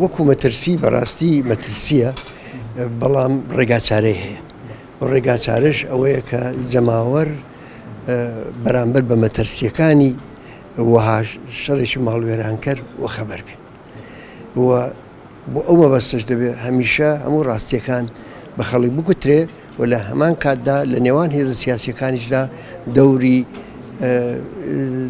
وەکو مەترسی بەڕاستی مەترسیە بەڵام ڕێگاچارەی هەیە و ڕێگاچارش ئەوەیە کە جەماوەر بەرامبەر بە مەترسیەکانی وەها شەڕێکی ماڵوێرانکەر و خەبەر بێ و بۆ ئەو مەبەستش دەبێت هەمیشە هەموو ڕاستیەکان بە خەڵک بگوترێ و لە هەمان کاتدا لە نێوان هێزە سیاسیەکانیشدا دەوری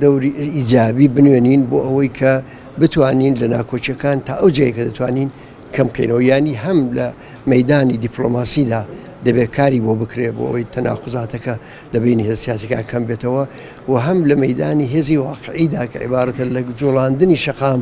دەوری ئیجابی بنوێنین بۆ ئەوەی کە بتوانین لە ناکۆچەکان تا ئەو جێکە دەتوانین کەمکەینەوە ینی هەم لە مەدانی دیپلۆماسیدا دەبێت کاری بۆ بکرێ بۆ ئەوی تەناقزاتەکە لە بینی هێز سیاسەکە کەم بێتەوە و هەم لە مەدانی هێزی واقعیدا کە عیبارەتە لە جوڵاندنی شەقام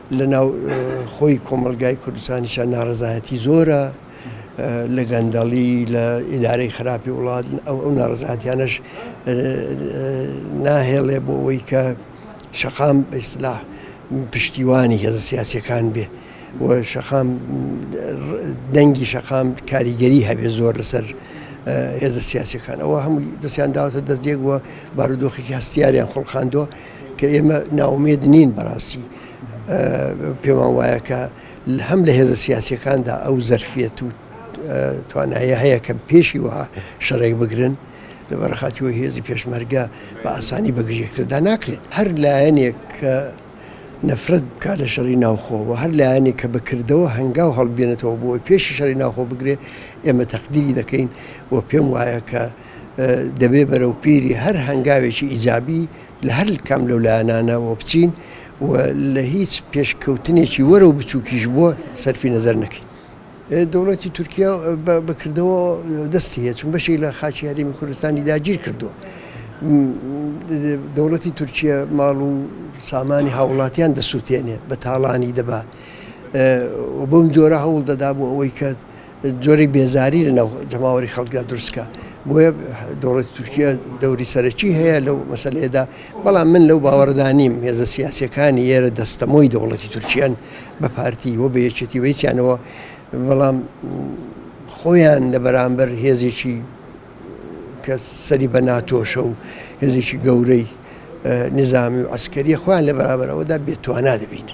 لە ناو خۆی کۆمەڵگای کوردستانیشا ناڕەزایەتی زۆرە لە گەندەڵی لە ئیدارەی خراپی وڵات ئەو ئەو ناڕزاتیانەش ناهێڵێ بۆ ئەوەی کە شەقام بەسلا پشتیوانی هێزە سیاسەکان بێ و شەقام دەنگی شەقام کاریگەری هەبێ زۆر لەسەر هێزە سیاسەکان ئەوە هەموو دەستیان داوەتە دەستێک وە بارودۆخی هەستیاریان خڵقاندووە کە ئێمە ناومێد نین بەڕاستی پێمان وایە کە هەم لە هێزە سیاسەکاندا ئەو زەرفەت و توانایە هەیە کە پێشی وها شەڕێک بگرن لە بەرخاتی وە هێزی پێشمەرگە بە ئاسانی بەگژێکتردا ناکرێت هەر لایەنێک کە نەفرەت بکات لە شەڕی ناوخۆوە هەر لایەنێک کە بەکردەوە هەنگاو هەڵبێنێتەوە بۆ پێشی شەری ناوخۆ بگرێ ئێمە تەقدیری دەکەین و پێم وایە کە دەبێ بەرەو پیری هەر هەنگاوێکی ئیجابی لە هەر کام لەو لایەنانە وە بچین و لە هیچ پێشکەوتنێکی وەرەو بچووکیش بۆ سەرفی نەزەر نەکەین. دەوڵەتی تورکیا بە کردەوە دەستی هەیە چون بەشێک لە خاکی هەرێمی کوردستانی داگیر کردووە. دەوڵەتی تورکیە ماڵ و سامانی هاووڵاتیان دەسووتێنێ بە تاڵانی دەبا و بەم جۆرە هەوڵ دەدا بۆ ئەوەی کە جۆرێک بێزاری لە ناو جەماوەری خەڵکدا دروست بکا بۆیە دەوڵەتی تورکیا دەوری سەرەکی هەیە لەو مەسلەیەدا بەڵام من لەو باوەڕدا نیم هێزە سیاسەکانی ئێرە دەستەمۆی دەوڵەتی تورکیان بە پارتی و بە یەکێتی ویسیانەوە بەڵام خۆیان لە بەرامبەر هێزێکی کە سەری بە ناتۆشە و هێزێکی گەورەی نظامی و ئەسکەری خۆیان لە بەرابەرەوەدا بێتوانە دەبینن